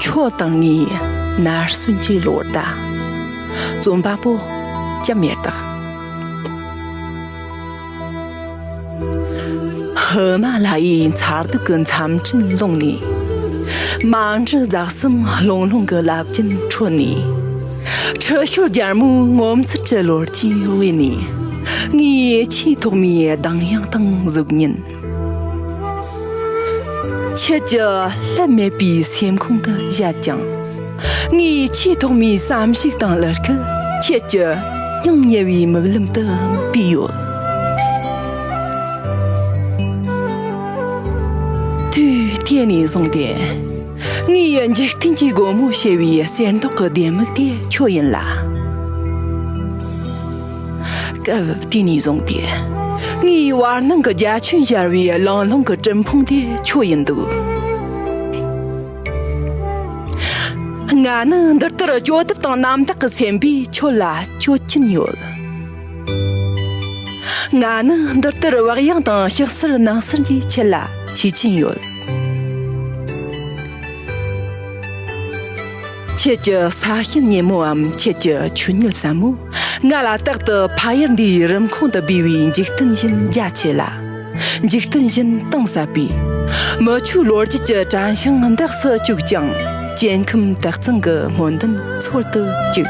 ཁྱོད་དང་ངའི་ནར་སོན་གྱི་ལོ་ཟླ་རྩོམ་པ་པོ་ཅམ་མེར་དག་ཧི་མ་ལ་ཡའི་མཚར་སྡུག་གི་མཚམས་སྤྲིན་ཀློང་ནས། མ་འདྲི་རྫ་གསུམ་ལྷུང་ལྷུང་གི་རླབས་རྒྱུན་ཁྲོད་ནས། ཁྲི་ཤོར་རྒྱལ་མོའི་ངོ་མཚར་གྱི་ལོ་རྒྱུས་དབུས་ནས། ངའི་ཡིད་ཆེས་ཐོག་མའི་གདངས་དབྱངས་དང་གཟུགས་བརྙན། ཁྱེད་ཀྱི་བསླད་མེད་པའི་སེམས་ཁུང་དུ་བཞད་ཀྱང། ངའི་ཆེས་ཐོག་མའི་བསམ་གཞིགས་དང་བློ་སྐུལ་ཁྱེད་ཀྱི་སྙིང་ཉེ་བའི་མིག་ལམ་དུ་བུས་ཡོད། དུས་དེ་ནས་བཟུང་སྟེ་ངའི་འཇིག་རྟེན་གྱི་སྒོ་མོ་ཕྱེ་བའི་གསེར་མདོག་གི་ལྡེ་མིག་དེ་ཁྱོད་ཡིན་ལ། སྐབས་དེ་ནས་བཟུང་སྟེ་ངའི་བར་སྣང་གི་རྒྱ་ཁྱོན་གཞར་བའི་ལང་ལོང་གི་སྤྲིན་ཕུང་དེ་ཁྱོད་ཡིན་འདུག། ང་ནི་འདི་ལྟར་སྐྱོ་དེབ་དང་རྣམ་དག་གི་སེམས་པས་ཁྱོད་ལ་སྐྱོད་ཀྱིན་ཡོད། ང་ནི་འདི་ལྟར་བག་ཡངས་དང་ཞིག་གསལ་ནང་གསལ་གྱིས་ཁྱེད་ལ་ཆས་ཀྱིན་ཡོད། ཁྱེད་ཀྱི་ས་ཞིང་སྙན་མོའམ་ཁྱེད་ཀྱི་ཆུ་སྙིལ་ཟབ་མོས་ང་ལ་རྟག་ཏུ་ཕ་ཡུལ་འདིའི་རིམ་ཁོང་དུ་སྦས་པའི་འཇིག་རྟེན་བཞིན་རྒྱ་ཆེ་ལ། འཇིག་རྟེན་བཞིན་གཏིང་ཟབ་པའི། མི་ཆོས་ལོ་རྒྱུས་ཀྱི་བྲན་ཤིང་འདེགས་སུ་བཅུག་ཅིང། སྐྱེ་ཁམས་བདག་བཙན་གྱི་སྨོན་འདུན་འཚོལ་དུ་བཅུག།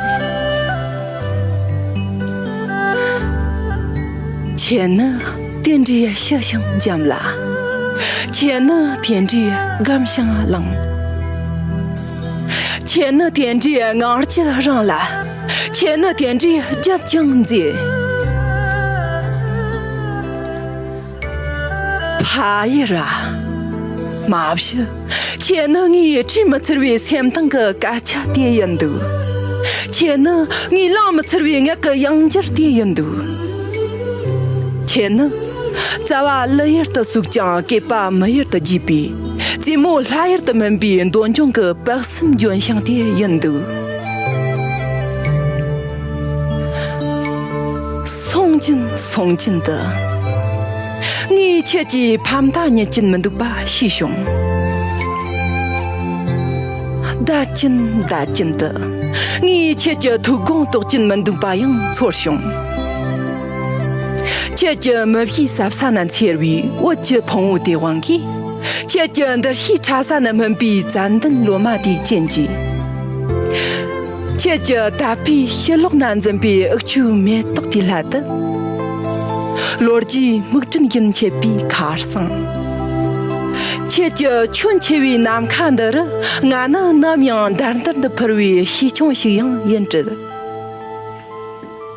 ཁྱེད་ནི་དེ་འདྲའི་ཞི་ཞིང་འཇམ་ལ། ཁྱེད་ནི་དེ་འདྲའི་སྒམ་ཞིང་བརླིང། ཁྱེད་ནི་དེ་འདྲའི་ངང་སྐྱིད་རང་ལ། ཁྱེད་ནི་དེ་འདྲའི་བརྒྱུད་ཀྱང་མཛེས། ཧའེ་ར། མ་བཞི། ཁྱེད་ནི་ངའི་བྲིས་མི་ཚར་བའི་སེམས་གཏིང་གི་སྐད་ཆ་དེ་ཡིན་འདུག་ཁྱེད་ནི་ངའི་བླངས་མི་ཚར་བའི་ངག་གི་དབྱངས་འགྱུར་དེ་ཡིན་འདུག་ཁྱེད་ནི། རྩ་བ་གླུ་ཡུལ་དུ་ཟུག་ཀྱང་སྐད་པ་མི་ཡུལ་དུ་རྒྱས་པའི་རྩེད་མོ་ལྷ་ཡུལ་དུ་སྨིན་པའི་འདོད་འབྱུང་གི་དཔག་བསམ་ལྗོན་ཤིང་དེ་ཡིན་འདུག། སོང་ཀྱིན་སོང་ཀྱིན་དུ། ངས་ཁྱེད་ཀྱི་ཕ་མཐའ་རྙེད་ཀྱིན་མི་འདུག་པ་ཤེས་བྱུང། བརྡ་ཀྱིན་བརྡ་ཀྱིན་དུ། ངས་ཁྱེད་ཀྱི་ཐུགས་དགོངས་རྟོགས་ཀྱིན་མི་འདུག་པ་ཡང་ཚོར་བྱུང། ཁྱེད་ཀྱི་མི་བཞིའི་ཟབ་ས་ན་འཚེར་བའི་འོད་ཀྱི་ཕུང་བོ་དེའི་དབང་གིས། ཁྱེད་ཀྱི་འདུ་ཤེས་ཕྲ་ས་ན་སྨིན་པའི་ཙན་དན་ལོ་མ་དེའི་རྐྱེན་གྱིས། ཁྱེད་ཀྱི་ད་ཕའི་ཕྱི་ལོགས་ན་འཛིན་པའི་འུག་ཆུའི་མེ་ཏོག་དེའི་ལྷ་དུ། ལོ་རྒྱུས་སྨུག་སྤྲིན་བཞིན་མཆེད་པའི་ཁར་སང། ཁྱེད་ཀྱི་ཁྱོན་ཆེ་བའི་ནམ་མཁའ་འདི་རུ་ང་ནི་ནམ་ཡང་འདར་འདར་དུ་འཕུར་བའི་ཤེས་ཆུང་ཞིག་ཡང་ཡིན་སྲིད།